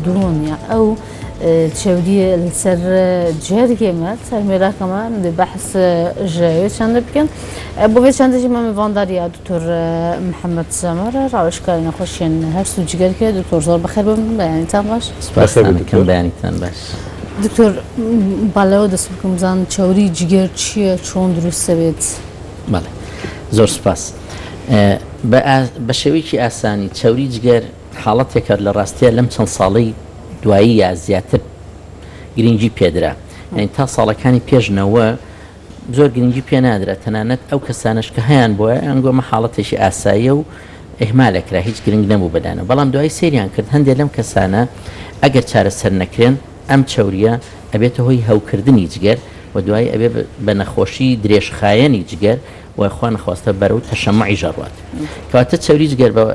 دووەمیان ئەو چەوریە سەر جەرگێ مە سەر مێراکەمە بەحس ژەوێ چەندە بکەن بۆ بێ چەندەژی مەمە ڤانداریا دکتۆر محەممەد سەمەرە ڕاوشکاری نەخۆشیێن هەر سو جگەرکە دکتۆر زۆر بەخێر بم بەیانیتان باش سپاسەکەم بەیانیتان باش. دکتۆر بالاوە دەست بکەم بزان چاوری جگەر چییە چۆن دروستە بێت؟ بەڵێ زۆر سپاس بە شێوەیەکی ئاسانی چاوری جگەر حاڵەتێکە لە ڕاستیا لەم چەند ساڵەی دواییە زیاتر گرینگی پێدرا یانی تا ساڵەکانی پێش نەوە زۆر گرنگی پێ نادرا تەنانەت ئەو کەسانش کە هەیان بۆە ئەنگۆمە حاڵەتێکی ئاساییە و ئهمالەکرا هیچ گرنگ نەبوو بەلایانە بەڵام دوای سریان کرد هەندێک لەم کەسانە ئەگەر چارەسەر نەکرێن ئەم چەوریە ئەبێتە هۆی هەوکردنی جگەر و دوایی ئەبێ بە نەخۆشی درێژخایەنی جگەر و خوانەخواستە بەرەو تەشەمعیش ئەڕوات کەواتە چەوری جگەر بە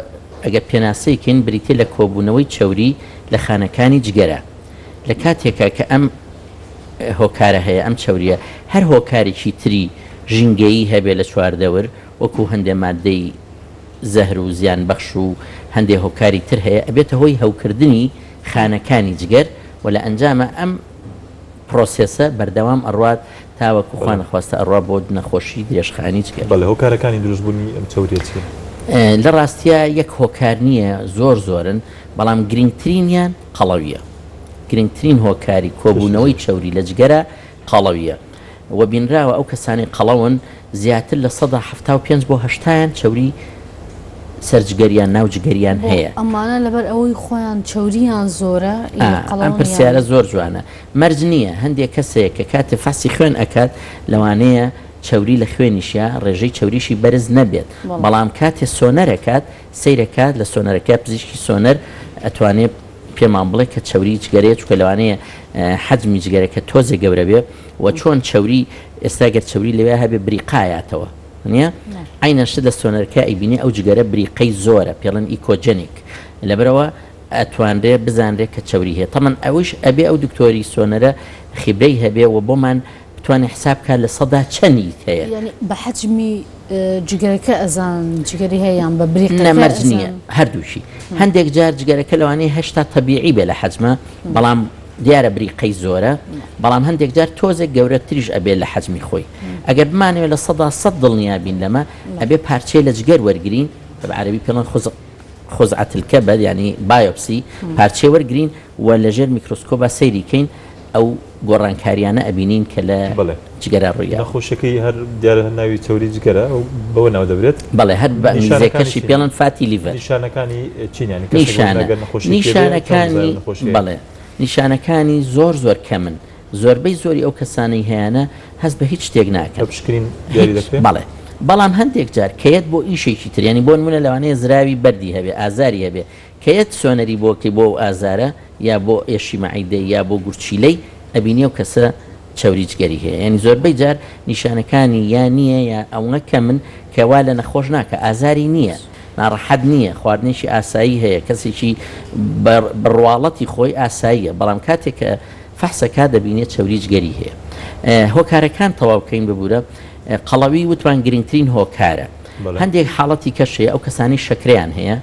ئەگەر پێناسەی کەین بریتیە لە کۆبوونەوەی چەوری لە خانەکانی جگەرە لە کاتێکا کە ئەم هۆکارە هەیە ئەم چەوریە هەر هۆکارێکی تری ژینگەیی هەبێ لە چواردەور وەکو هەندێ ماددەی زەهر و زیان بەخش و هەندێ هۆکاری تر هەیە ئەبێتە هۆی هەوکردنی خانەکانی جگەر و لە ئەنجاما ئەم پرۆسێسە بەردەوام ئەڕوات تاوەکو خوا نەخواستە ئەڕوا بۆ نەخۆشی درێژخایەنی جگەر. بەڵێ هۆکارەکانی دروست بونی ئەم چەوریە چیە؟ لە ڕاستیا یەک هۆکار نیە زۆر زۆرن بەڵام گرنگترینیان قەڵەویە گرنگترین هۆکاری کۆبونەوەی چەوری لە جگەرە قەڵەویە، و بینراوە ئەو کەسانەی قەڵەون زیاتر لە سەدا حەفتا و پێنج بۆ هەشتایان چەوری سەر جگەر یان ناو جگەریان هەیە. بۆ ئەمانە لەبەر ئەوەی خۆیان چەوریان زۆرە ی قەڵەون یان؟ ئا ئەم پرسیارە زۆر جوانە مەرج نییە هەندێ کەسێک کە کاتێ فحسی خوێن ئەکات لەوانەیە چەوری لە خوێنیشیا ڕێژەی چەوریشی بەرز نەبێت بەڵام کاتێ سۆنەر ئەکات سەیرەکات لە سۆنەرەکە پزیشکی سۆنەر ئەتوانێ پێمان بڵێ کە چەوری جگەرەیە چونکە لەوانەیە حەجمی جگەرەکە تۆزێ گەورە بێ و چۆن چەوری ئێستا گەر چەوری لەوێ هەبێ بریقایاتەوە نیە عینە شت لە سۆنەرکە ئەیبینێ ئەو جگەرە بریقەی زۆرە پێڵن ئیکۆجنیک لەبەرەوە ئەتوانرێ بزانرێ کە چەوری هەیە تەمەن ئەوش ئەبێ ئەو دکتۆری سۆنەرە خیبرەی هەبێ و بۆمان بتوانێ حساب بکات لە سەدا چەنی هەیە. یانی بە حەجمی جگەرەکە ئەزان جگەری هەیە یان بە بریقەکە ئەزان؟ نە مەرج نییە هەردووکی هەندێک جار جگەرەکە لەوانەیە هەشتا تەبیعی بێ لە حەجمە بەڵام دیارە بریقەی زۆرە بەڵام هەندێک جار تۆزێک گەورە تریش ئەبێ لە حەجمی خۆی ئەگەر بمانەوێ لە سەدا سەد دڵنیا بین لەمە ئەبێ پارچەی لە جگەر وەرگرین بە عەرەبی پێڵن خوزق خزعەتلکەبەد یانی بایۆپسی پارچەی وەرگرین و لەژێر میکرۆسکۆبا سەیری کەین ئەو گۆڕانکاریانە ئەبینین کە لە بەڵێ جگەرە ڕووی داوە. نەخۆشیەکەی هەر دیارە هەر ناوی چەوری جگەرە ئەو بەوە ناو دەبرێت. بەڵێ هەر بە ئینگلیزیەکەشی پێ ڵێن فاتی لیڤەر. نیشانەکانی چین یانی کەسێک وەک نیشانە نەگەر نەخۆشیەکی هەبێ چۆن بزانێ نیشانەکانی نەخۆشی هەیە؟ بەڵێ نیشانەکانی زۆر زۆر کەمن زۆربەی زۆری ئەو کەسانەی هەیانە هەست بە هیچ شتێک بە ناکەن پشکنین دیاری هیچ دەکرێ؟ بەڵێ بەڵام هەندێک جار کە یەت بۆ ئیشێکی تر یانی بۆ نمونە لەوانەیە زراوی بەردی هەبێ ئازاری هەبێ کە یەت سۆنەری بۆ کەی بۆ ئەو ئازارە یا بۆ ئێشی مەعیدەی یا بۆ گورچیلەی ئەبینی ئەو کەسە چەوری جگەری هەیە یانی زۆربەی جار نیشانەکانی یا نیە یا ئەونە کەمن کە وا لە نەخۆش ناکا ئازاری نیە ناڕەحەت نیە خواردنێکی ئاسایی هەیە کەسێکی بە بە ڕواڵەتی خۆی ئاساییە بەڵام کاتێ کە فەحس ئەکا دەبینێ چەوری جگەری هەیە هۆکارەکان تەواو کەین ببورە قەڵەوی وتمان گرنگترین هۆکارە بەڵێ. هەندێک حاڵەتی کەش هەیە ئەو کەسانەی شەکرەیان هەیە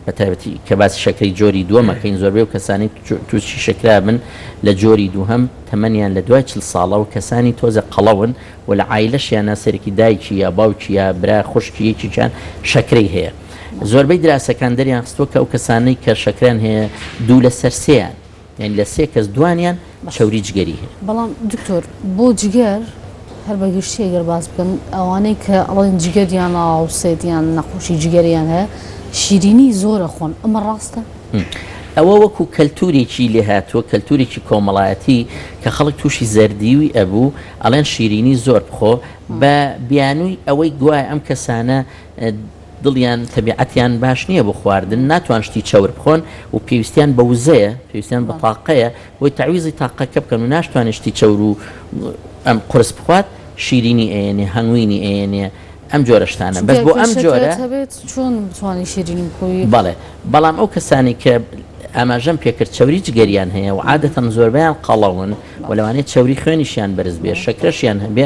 بە تایبەتی کە باسی شەکرەی جۆری دووەم ئەکەین، زۆربەی ئەو کەسانەی تووشی شەکرە ئەبن لە جۆری دووهەم تەمەنیان لە دوای چل ساڵە و کەسانی تۆزێ قەڵەون و لە عایلەشیانا سەرێکی دایکی یا باوکی یا برا خوشکی یەکێکیان شەکرەی هەیە. زۆربەی دراسەکان دەریانخستووە کە ئەو کەسانەی کە شەکرەیان هەیە دوو لەسەر سێیان یانی لە سێ کەس دوانیان چەوری جگەری هەیە. بەڵام دکتۆر بۆ جگەر هەر بە گشتی ئەگەر باس بکەم ئەوانەی کە ئەڵێن جگەریان ئاوسێت یان نەخۆشی جگەریان هەیە شیرینی زۆر ئەخۆن ئەمە ڕاستە؟ ئەوە وەکو کەلتورێکی لێهاتووە کەلتورێکی کۆمەڵایەتی کە خەڵک تووشی زەردیوی ئەبوو ئەڵێن شیرینی زۆر بخۆ بە بیانووی ئەوەی گوایە ئەم کەسانە دڵیان، تەبیعەتیان، باش نییە بۆ خواردن، ناتوان شتی چەور بخۆن و پێویستیان بە وزەیە، پێویستیان بە تاقەیە، بۆی تەعویزی تاقەکە بکەن و ناشتوانێ شتی چەور و ئەم قورس بخوات، شیرینی ئەیەنێ، هەنگوینی ئەیەنێ، ئەم جۆرە شتانە، بەس بۆ ئەم جۆرە. بەڵێ، بەڵام ئەو کەسانەی کە ئاماژەم پێ کرد چەوری جگەریان هەیە و عادەتەن زۆربەیان قەڵەون و لەوانەیە چەوری خوێنیشیان بەرز بێ، شەکرەشیان هەبێ،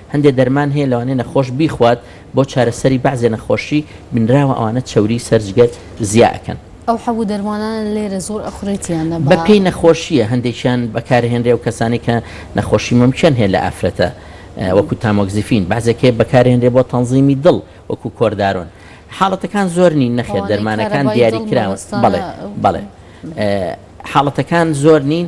هەندێ دەرمان هەیە لەوانەیە نەخۆش بیخوات بۆ چارەسەری بەعزێ نەخۆشی بینراوە ئەوانە چەوری سەر جگەر زیا ئەکەن. ئەو حەبو دەرمانانە لێرە زۆر ئەخورێت یان نە بە. بە پێی نەخۆشیە هەندێکیان بەکار ئەهێنرێ و کەسانێک کە نەخۆشی مەمکیان هەیە لە ئافرەتە وەکو تامۆکزیفین بەعزێک هەیە بەکار ئەهێنرێ بۆ تەنزیمی دڵ وەکو کۆردارۆن حاڵەتەکان زۆر نین نەخێر دەرمانەکان دیاری کراون بەڵێ بەڵێ حاڵەتەکان زۆر نین.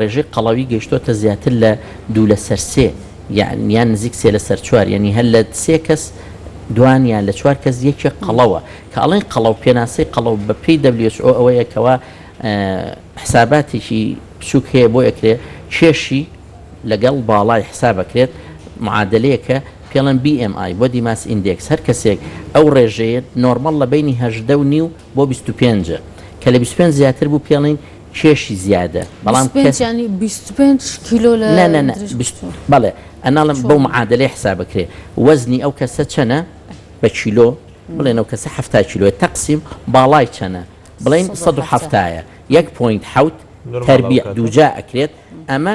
ڕێژەی قەڵەوی گەیشتۆتە زیاتر لە دوو لەسەر سێ یان یان نزیک سێ لەسەر چوار یانی هەر لە سێ کەس دوان یان لە چوار کەس یەکێک قەڵەوە کە ئەڵێن قەڵەو پێناسەی قەڵەو بە پێی WHO ئەوەیە کەوا حساباتێکی بچووک هەیە بۆ ئەکرێ کێشی لەگەڵ باڵای حسابەکرێت معادلەیەکە پێڵەن BMI بۆ دیماس ئیندێکس هەر کەسێک ئەو ڕێژەیە نۆرمەڵ لە بینی هەژدە و نیو بۆ 25 کە لە 25 زیاتر بوو پێڵین کێشی زیادە بەڵام کەس بیست و پێنج کیلۆ لە نا نا نا بیست بەڵێ ئەناڵم بەو معادلەی حساب بکرێ وەزنی ئەو کەسە چەنە بە کیلۆ بڵێن ئەو کەسە حەفتا کیلۆێت تەقسیم باڵای چەنە بڵین سەد و حەفتایە یەک پۆینت حەوت نورماڵ تەربیع ئەوکاتە. دووجا ئەکرێت ئەمە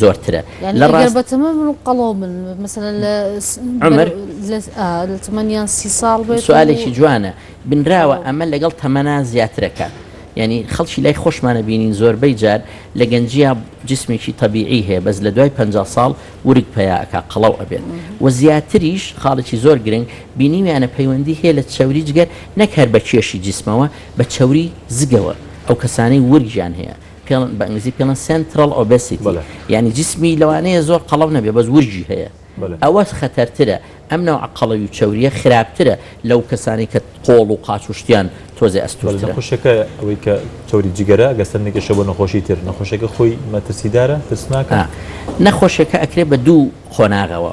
زۆرترە لە ڕاست بەتەمە من و قەڵۆ من مەسەن لە عمر لە تەمەنیان سی ساڵ بێت سوالێکی جوانە بنراوە ئەمە لەگەڵ تەمەنا زیاترەکە ینی خەڵکی لای خۆشمانە بینین زۆربەی جار لە گەنجیا جسمێکی طببیعی هەیە بەس لە دوای 50 ساڵ ورگ پیاکە قەڵەو ئەبێت و زیاتریش خاڵێکی زۆر گرنگ بینیویانە پەیوەندی هەیە لە چەوری جگەر نەکەر بە کێشی جسمەوە بە چەوری زگەوە ئەو کەسانەی ورگیان هەیە پێڵن بە ئینگلیزی پێڵن Central Obesity بەڵێ. یانی جسمی لەوانەیە زۆر قەڵەو نەبێ بەس ورگی هەیە بەڵێ. ئەوە خەتەرترە ئەم نەوعە قەڵەوی و چەوریە خراپترە لەو کەسانەی کە قۆڵ و قاچ و شتیان تۆزێ بەڵێ ئەستورترە. نەخۆشیەکە ئەوەی کە چەوری جگەرە ئەگەر سەرنجی کێشە بۆ نەخۆشی تر نەخۆشیەکە خۆی مەترسیدارە ترسناکە؟ نەخۆشیەکە ئەکرێ بە دوو قۆناغەوە.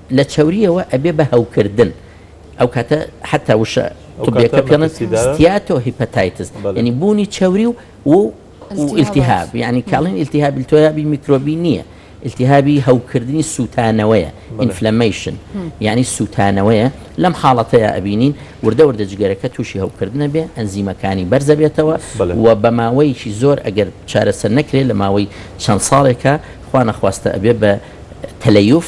لە چەورییەوە ئەبێ بە هەوکردن ئەو کاتە حەتا وشە طبیەکە پێڵێن ستیاتۆ هیپەتایتس یعنی بوونی چەوری و و ئیلتیهاب یعنی کاڵین ئیلتیهاب ئیلتۆیابی میکرۆبی نییە ئیلتیهابی هەوکردنی سووتانەوەیە ئینفلەمەیشن یعنی سووتانەوەیە لەم حاڵەتەیە ئەبینین وردە وردە جگەرەکە تووشی هەوکردنە بێ ئەنزیمەکانی بەرزە بێتەوە و بە ماوەیەکی زۆر ئەگەر چارەسەر نەکرێت لە ماوەی چەند ساڵێکە خوا نەخواستە ئەبێ بە تەلەیوف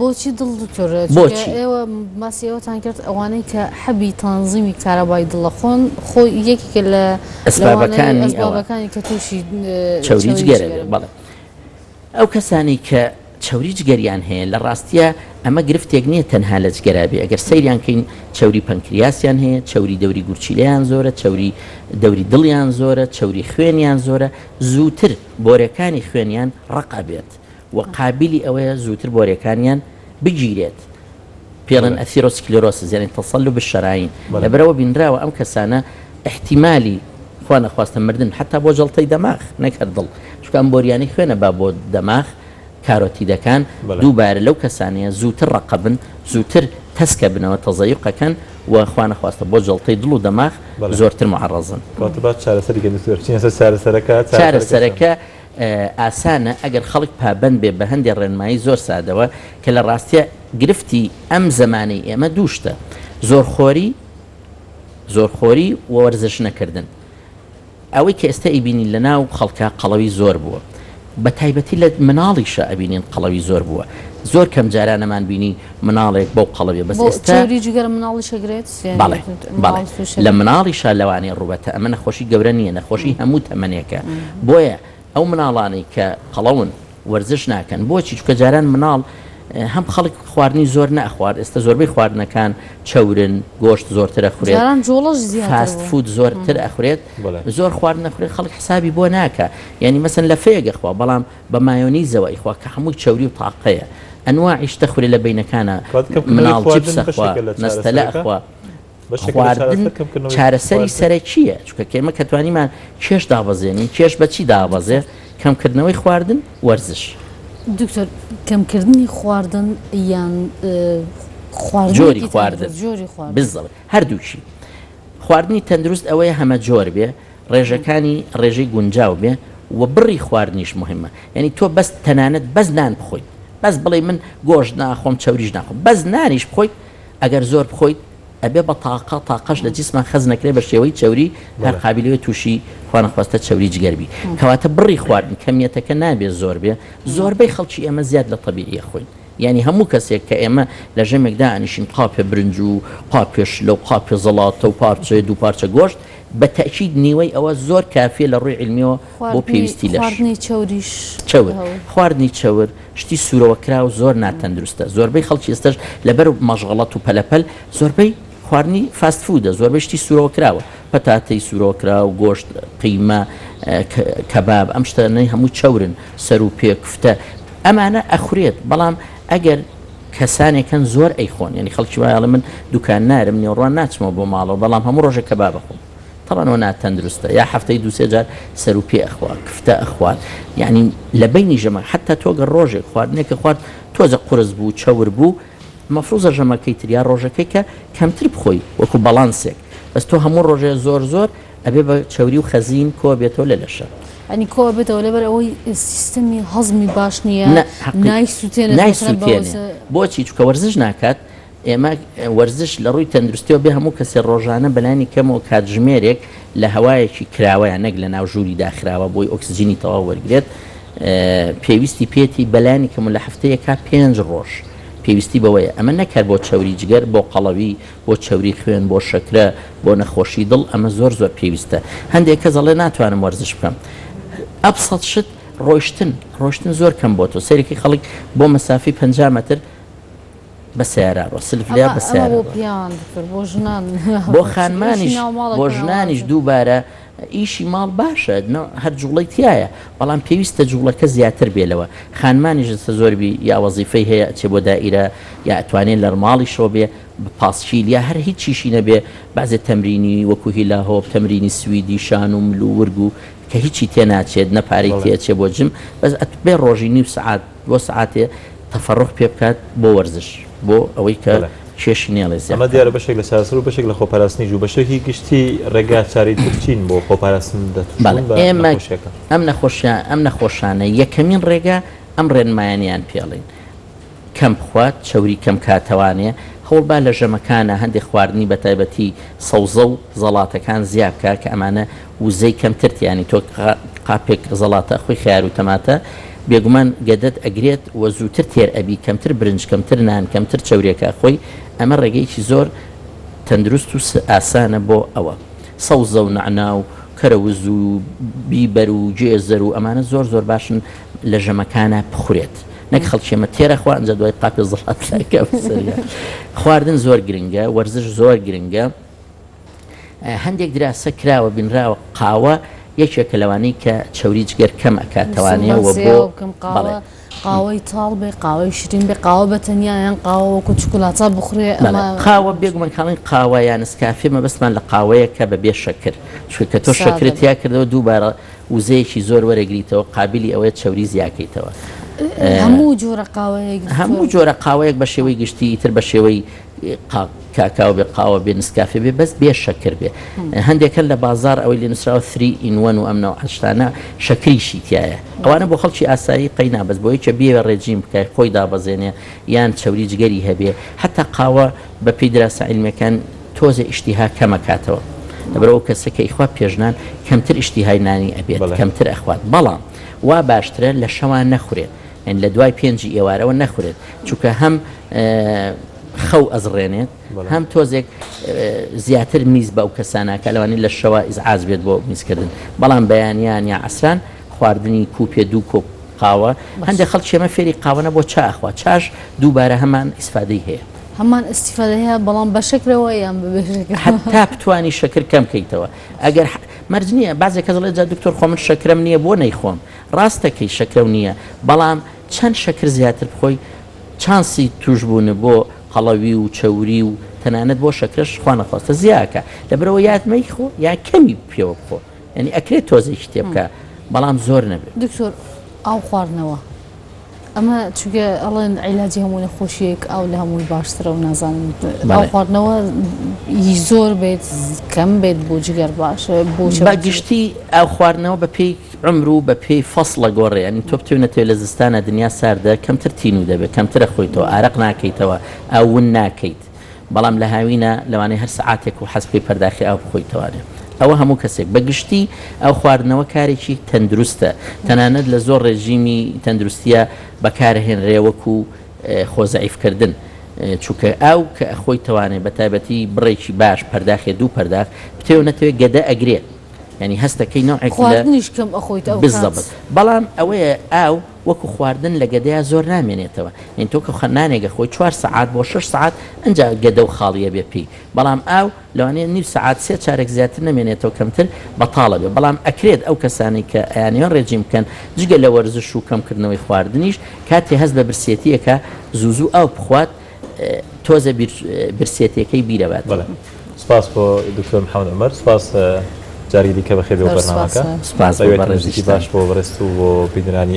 بۆچی دڵ دکتۆر چونکە بۆچی؟ ئێوە باسی ئەوەتان کرد ئەوانەی کە حەبی تەنزیمی کارەبای دڵە خۆن خۆ یەکێکە لە ئەسبابەکانی ئەوانەی ئەوە ئەسبابەکانی کە تووشی چەوری چەوری جگەرە جگەرە بێت بن. بەڵێ ئەو کەسانەی کە چەوری جگەریان هەیە لە ڕاستییا ئەمە گرفتێک نییە تەنها لە جگەرا بێ ئەگەر سەیریان کەین چەوری پەنکریاسیان هەیە چەوری دەوری گورچیلەیان زۆرە چەوری دەوری دڵیان زۆرە چەوری خوێنیان زۆرە زووتر بۆرەکانی خوێنیان ڕەق ئەبێت و قابیلی ئەوەیە زووتر بۆرێکانیان بگیرێت، پێڵێن ئەثیرۆسکلێرۆسس یانی تەسەلوب الشەرایین، لەبەرئەوە بینراوە ئەم کەسانە ئیحتیمالی خوا نەخواستە مردن حەتا بۆ جەڵتەی دەماغ نەک هەر دڵ، چونکە ئەم بۆریانەی خوێنە با بۆ دەماغ کارۆتیدەکان دووبارە لەو کەسانەیە زووتر ڕەقبن، زووتر تەسکەبنەوە، تەزەیوق ئەکەن، و خوا نەخواستە بۆ جەڵتەی دڵ و دەماغ زۆرتر معەڕەزن. واتە با چارەسەری کە دکتۆر بچینە سەر چارەسەرەکە، چارەسەرەکە. ئاسانە ئەگەر خەڵک پابەند بێ بە هەندێ ڕێنمایی زۆر سادەوە کە لە ڕاستیا گرفتی ئەم زەمانەی ئێمە دوو شتە زۆرخۆری زۆرخۆری و وەرزش نەکردن ئەوەی کە ئێستا ئیبینین لە ناو خەڵکە قەڵەوی زۆر بووە بە تایبەتی لە مناڵیشە ئەبینین قەڵەوی زۆر بووە زۆر کەم جارانەمان بینی مناڵێک بەو قەڵەبێ بەس ئێستا بۆ چەوری جگەرە مناڵیش ئەگرێت؟ بەڵێ بەڵێ لە مناڵیشا لەوانەیە ڕووبەتە ئەمە نەخۆشی گەورە نییە نەخۆشی هەموو تەمەنێکە بۆیە ئەو مناڵانەی کە قەڵەون وەرزش ناکەن بۆچی چکە جاران مناڵ هەم خەڵک خواردنی زۆر نەخوارد ئێستا زۆربەی خواردنەکان چەورن گۆشت زۆرترە خورێت فاست فود زۆرتر ئەخورێت زۆر خوارد نەخورێت خەڵک حسابی بۆ ناکە یعنی مەسن لە فێگە خوا بەڵام بە مایۆنیزەوە ئەیخوا کە هەمووی چەوری و تاقەیە ئەنواعی شتە خورە لە بەینەکانە کەواتە کەمکردنەوەی مناڵ چیپس خواردن ئەخوا بەشێکە لە نەستەلە چارەسەرەکە؟ ئەخوا بەشێکە لە خواردن چارەسەر کەمکردنەوەی چارەسەری خواردن؟ سەرەکییە چونکە کە ئێمە کە توانیمان کێش دابەزێنین کێش بە چی دابەزێ کەمکردنەوەی خواردن وەرزش. دکتۆر کەمکردنی خواردن یان خواردنێکی جۆری تایبەت خواردن جۆری خواردن. بالضبط هەردووکی خواردنی تەندروست ئەوەیە هەمەجۆر بێ، ڕێژەکانی ڕێژەی گونجاو بێ و بڕی خواردنیش موهیمە، یانی تۆ بەس تەنانەت بەس نان بخۆیت، بەس بڵێی من گۆشت ناخۆم چەوریش ناخۆم، بەس نانیش بخۆیت ئەگەر زۆر بخۆیت ئەبێ بە تاقە، تاقەش لە جسما خەزنە کرێ بە شێوەی چەوری هەر قابیلەوێ توشی خوانەخواستە چەوری جگەر بی، کەواتە بڕی خواردن کەمیەتەکە نابێ زۆر بێ، زۆربەی خەڵکی ئێمە زیاد لە تەبیعی ئەخۆین، یانی هەموو کەسێک کە ئێمە لە ژەمێک دائەنیشین قاپێ برنج و قاپێ شلە و قاپێ زەڵاتە و پارچەیە دوو پارچە گۆشت بە تەئکید نیوەی ئەوە زۆر کافیە لە ڕووی علمیەوە بۆ پێویستی لەش. چەور، خواردنی چەور شتی سوورەوە کراو زۆر ناتەندروستە زۆربەی خەڵکی ئێستەش لەبەر مەشغەڵەت و پەلەپەل زۆربەی خواردنی فاست فوودە زۆربەی شتی سورەوە کراوە پەتاتەی سورەوە کراو گۆشت قیمە کەباب ئەم شتە نەی هەموو چەورن سەر و پێ کوفتە ئەمانە ئەخورێت بەڵام ئەگەر کەسانێکن زۆر ئەیخۆن ینی خەڵکی وایڵە من دوکان نارم نێوڕوان ناچمەوە بۆ ماڵەوە بەڵام هەموو ڕۆژە کە با بخۆم تەوانەوە ناتەندروستە یا هەفتەی دوسێ جار سەر و پێ ئەخوا کفتە ئەخوات یعنی لە بینی ژەمە حتا تۆگە ڕۆژێک خواردنێکە خوارد تۆزە قرس بوو چەور بوو مەفروزە ژەمەکەی تر یا ڕۆژەکەی کە کەمتر بخۆی وەکو بەڵانسێک بەس تۆ هەموو ڕۆژێ زۆر زۆر ئەبێ بە چەوری و خەزین کۆ بێتەوە لە لەشە. ئەنی کۆ ئەبێتەوە لەبەر ئەوەی سیستەمی هەزمی باش نییە نە حەقی نایسوتێنێت نای مەسەلەن بە سوتێنێ وزە بۆچی چکە وەرزش ناکات ئێمە وەرزش لە ڕووی تەندروستیەوە بێ هەموو کەسێ ڕۆژانە بەلانی کەمەوە کاتژمێرێک لە هەوایەکی کراوەیە نەک لە ناو ژووری داخراوە بۆی ئۆکسجینی تەواو وەرگرێت پێویستی پێتی بەلانی کەم و لە هەفتەیەکا پێنج ڕۆژ پێویستی بەوەیە ئەمە نەک هەر بۆ چەوری جگەر بۆ قەڵەوی بۆ چەوری خوێن بۆ شەکرە بۆ نەخۆشی دڵ ئەمە زۆر زۆر پێویستە هەندێک کەس ئەڵێ ناتوانم وەرزش بکەم ئەبسەت شت ڕۆشتن ڕۆشتن زۆر کەم بۆ تۆ سەرێکی خەڵک بۆ مەسافی پ مەتر بە سیارە ڕۆ سلف لێ بە سیارە بۆ پیاوان دکتۆر بۆ ژنان بۆ خانمانیش بۆ ژنانیش دووبارە ئیشی ماڵ باشە هەر جوڵەی تیایە بەڵام پێویستە جوڵەکە زیاتر بێ لەوە خانمانیش جەستە زۆر بی یا وەزیفەی هەیە ئەچێ بۆ دائیرە یا ئەتوانێ لەرماڵیشەوە بێ پاسکیل یا هەر هیچ چیشی نەبێ بەعزێ تەمرینی وەکو هیلا هۆپ تەمرینی سویدی شان و مل و ورگ و کە هیچی تێناچێت نە پارەی تێ ئەچێ بۆ جم بەس ئەتبێ ڕۆژی نیو سەعات بۆ سەعاتێ تەفەڕوغ پێ بکات بۆ وەرزش بۆ ئەوەی کە بەڵێ کێشی نێڵێ زیاد ئەمە دیارە بەشێک لە چارەسەر و بەشێک لە خۆپاراستنیش و بەشێکی گشتی ڕێگا چارەی تر چین بۆ خۆپاراستن لە بەڵێ تووشبوون بە ئێمە نەخۆشیەکە؟ ئەم نەخۆشیە ئەم نەخۆشانە یەکەمین ڕێگا ئەم ڕێنمایانەیان پێڵێن کەم بخوات چەوری کەم کاتەوانێ هەوڵبا لە ژەمەکانا هەندێ خواردنی بەتایبەتی سەوزە و زەڵاتەکان زیابکا کە ئەمانە وزەی کەمتر تیانی تۆ قاپێک زەڵاتە خۆی خەیار و تەماتە بێگومان گەدەت ئەگرێت و زووتر تێر ئەبی کەمتر برنج کەمتر نان کەمتر چەورێکە خۆی ئەمە ڕێگەیەکی زۆر تەندروست و ئاسانە بۆ ئەوە سەوزە و نەعنا و کەرەوز و بیبەر و گێزەر و ئەمانە زۆر زۆر باشن لە ژەمەکانە بخورێت نەک خەڵکی ئەمە تێرە خوا ئەنجا دوای قاپێ زەڵات خواردن زۆر گرنگە وەرزش زۆر گرنگە هەندێک دراسە کراوە بینراوە قاوە یەکێکە لەوانەی کە چەوری جگەر کەم ئەکاتەوانێ وە بۆ بەڵێ. قاوەی تاڵ بێ قاوەی شرین بێ قاوە بە تەنیا یان قاوە وەکو چکولاتا بخورێ قاوە بێگومان کاڵین قاوە یان نسکافێ مەبەستمان لە قاوەیە کە بە بێ شەکر چونکە کە تۆ شەکرت تیا کردەوە دووبارە وزەیەکی زۆر وەرەگریتەوە قابلی ئەوەیە چەوری زیاکەیتەوە هەموو جۆرە قاوەیەک هەموو جۆرە قاوەیەک بە شێوەی گشتی تر بە شێوەی کاکاو بێ قاوە بێ نسکافێ بێ بەس بێ شەکر بێ هەندێک هەن لە بازار ئەوەی لێ نووسراوە ثری ئین وەن و ئەم نەوعە شتانە شەکریشی تایە ئەوانە بۆ خەڵکی ئاسایی قەینا بەس بۆ یەکێ بیەوێ ڕێجیم بکای خۆی دابەزێنێ یان چەوری جگەری هەبێ حەتا قاوە بەپێی دراسە عیلمیەکان تۆزێ ئیشتیها کەمەکاتەوە لەبەر ئەو کەسە کە ئیخوا پێشنان کەمتر ئیشتیهای نانی ئەبێت کەمتر ئەخوات بەڵام وا باشترە لە شەوان نەخورێ یانی لە دوای پێنجی ئێوارەوە نەخورێت چونکە هەم خەو ئەزڕێنێت هەم تۆزێک زیاتر میز بە ئەو کەسانەکە لەوانی لە شەوە ئیزعاز بێت بۆ میزکردن بەڵام بەیانیان یا ئەسران خواردنی کوپێ دوو کۆپ قاوە هەندێک خەڵ چێمە فێری قاوەە بۆ چاخوا چاش دووبارە هەمان ئیسفادەی هەیە هەمان ئیسفادە هەیە بەڵام بە شکرەوە یان تا بتانی شکر کەم کەیتەوە ئەگەر مەرج نییە بازێک کەزڵێ جا دکتۆر خۆ من شکرم نییە بۆ نەیخۆم ڕاستە کەی شەکرەو نییە بەڵام چەند شەکر زیاتر بخۆی چانسی توشبوونە بۆ قەڵەوی و چەوری و تەنانەت بۆ شەکرەش خوانەخواستە زیاکە لەبەرئەوە یات مەیخۆ یا کەمی پێوە بخۆ یانی ئەکرێت تۆزێکی تێبکە بەڵام زۆر نەبێت. دکتۆر ئاو خواردنەوە ئەمە چونکە ئەڵێن عیلاجی هەموو نەخۆشیەک ئاو لە هەمووی باشترە و نازانم ئاو خواردنەوە ی زۆر بێت کەم بێت بۆ جگەر باشە بۆ بە گشتی ئاو خواردنەوە بە پێی عمر و بە پێی فەسڵە گۆڕێ ینی تۆ بتێ نەتێ لە زستانە دنیا ساردە کەمتر تینوو دەبێت کەمترە خۆیتەوە ئارەق ناکەیتەوە ئاو ون ناکەیت بەڵام لە هاوینە لەوانەیە هەر سەعاتێک و حەز بکەی پەرداخی ئاو بخۆیتەوانێ ئەوە هەموو کەسێک بە گشتی ئاو خواردنەوە کارێکی تەندروستە تەنانەت لە زۆر ڕێژیمی تەندروستیە بەکارهێنرێ وەکو خۆ زەعیف کردن چونکە ئاو کە ئەخۆیتەوانێ بە تایبەتی بڕێکی باش پەرداخێ دوو پەرداخ بتەوێ و نەتەوێ گەدە ئەگرێ یانی هەستەکەی نەوعێک لە خواردنیش کەم ئەخۆیت ئەو کات. بالضبط بەڵام ئەوەیە ئاو وەکو خواردن لە گەدەیا زۆر نامێنێتەوە یانی تۆ کە نانێک ئەخۆی چوار سەعات بۆ شەش سەعات ئەنجا گەدە و خاڵی ئەبێ پێی بەڵام ئاو لەوانەیە نیو سەعات سێ چارەک زیاتر نەمێنێتەوە کەمتر بەتاڵ ئەبێ بەڵام ئەکرێت ئەو کەسانەی کە ئەیانەوێ ڕێجیم بکەن جگە لە وەرزش و کەمکردنەوەی خواردنیش کاتێ هەست بە برسێتی ئەکا زوو زوو ئاو بخوات تۆزە برسێتیەکەی بیرەوە دێت. سپاس بۆ دکتۆر محمد عمر سپاس جاری دیکە بەخێر بێی بۆ بەرنامەکە سپاس بۆ بەڕێزیشت. سپاس بۆ بەڕێزت و بۆ بینەرانی.